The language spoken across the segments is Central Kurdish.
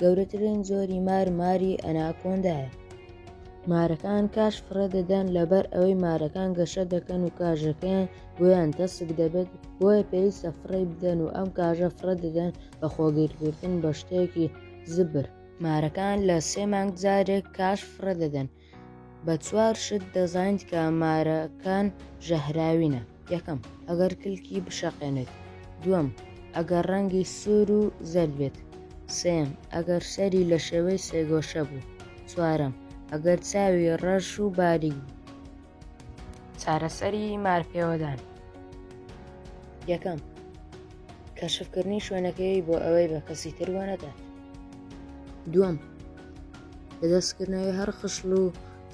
گەورەترین جۆری مار ماری ئەناکۆندایە. مارەکان کاش فڕێ دەدەن لەبەر ئەوەی مارەکان گەشە دەکەن و کاژەکەیان بۆیان تەسک دەبێت بۆیە پێویستە فڕێ بدەن و ئەم کاژە فڕێ دەدەن بە خۆگیرکردن بە شتێکی زبر. مارەکان لە سێ مانگ جارێک کاش فڕێ دەدەن. بە چوار شت دەزانیت کە مارەکان ژەهراوینە یەکەم ئەگەر کلکی بشەقێنێت دووەم ئەگەر ڕەنگی سوور و زەرد بێت سێم ئەگەر سەری لە شێوەی سێگۆشە بوو چوارەم ئەگەر چاوی ڕەش و باریک بوو چارەسەری مارپێوەدان یەکەم کەشفکردنی شوێنەکەی بۆ ئەوەی بە کەسی تر وەنەدات دووەم لە دەستکردنەوەی هەر خشڵ و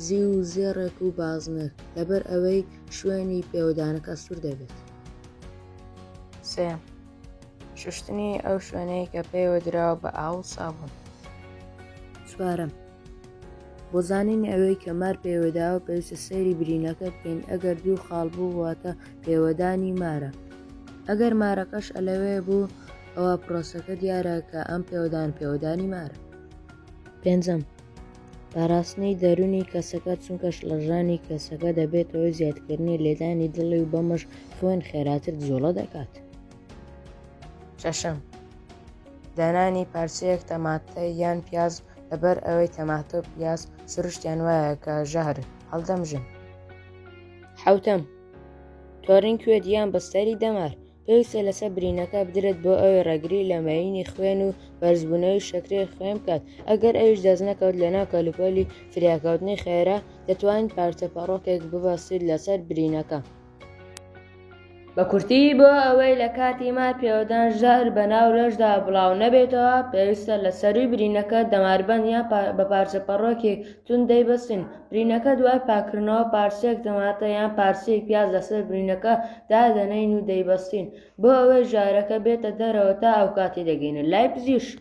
زیو و زێڕێک و بازنەک لەبەر ئەوەی شوێنی پێوەدانەکە سوور دەبێت. سێم، شوشتنی ئەو شوێنەی کە پێوە دراوە بە ئاو و سابون. چوارەم، بۆ زانینی ئەوەی کە مار پێوەداوە پێویستە سەیری برینەکە بکەین ئەگەر دوو خاڵ بوو واتە پێوەدانی مارە ئەگەر مارەکەش ئەلەوێ بوو ئەوە پرۆسەکە دیارە کە ئەم پێوەدان پێوەدانی مارە. پێنجەم پاراستنی دەرونی کەسەکە چونکە شڵەژانی کەسەکە دەبێتەوەی زیادکردنی لێدانی دڵی و بەمەش خوێن خێراتر جۆڵە دەکات شەشەم دانانی پارچەیەک تەماتە یان پیاز لەبەر ئەوەی تەماتۆ پیاز سروشتیان وایە کە ژەهر هەڵدەمژن حوتەم تۆرین کوێت یان بەستەری دەمار پێویستە لەسەر برینەکە بدرێت بۆ ئەوەی ڕێگری لە مەیینی خوێن و بەرزبوونەوەی شەکری خوێن بکات ئەگەر ئەویش دەست نەکەوت لەناو کەلوپەلی فریاکەوتنی خێرا دەتوانین پارچە پەڕۆکێک ببەستیت لەسەر برینەکە بە کورتی بۆ ئەوەی لە کاتی مار پێوەدان ژەهر بە ناو لەشدا بڵاو نەبێتەوە پێویستە لە سەرووی برینەکە دەماربەند یان بە پارچە پەڕۆکێک چون دەیبەستین برینەکە دوای پاککردنەوە پارچەیەک تەماتە یان پارچەیەک پیاز لەسەر برینەکە دادەنێین و دەیبەستین بۆ ئەوەی ژارەکە بێتە دەرەوە تا ئەوکاتەی دەگەینە لای پزیشک.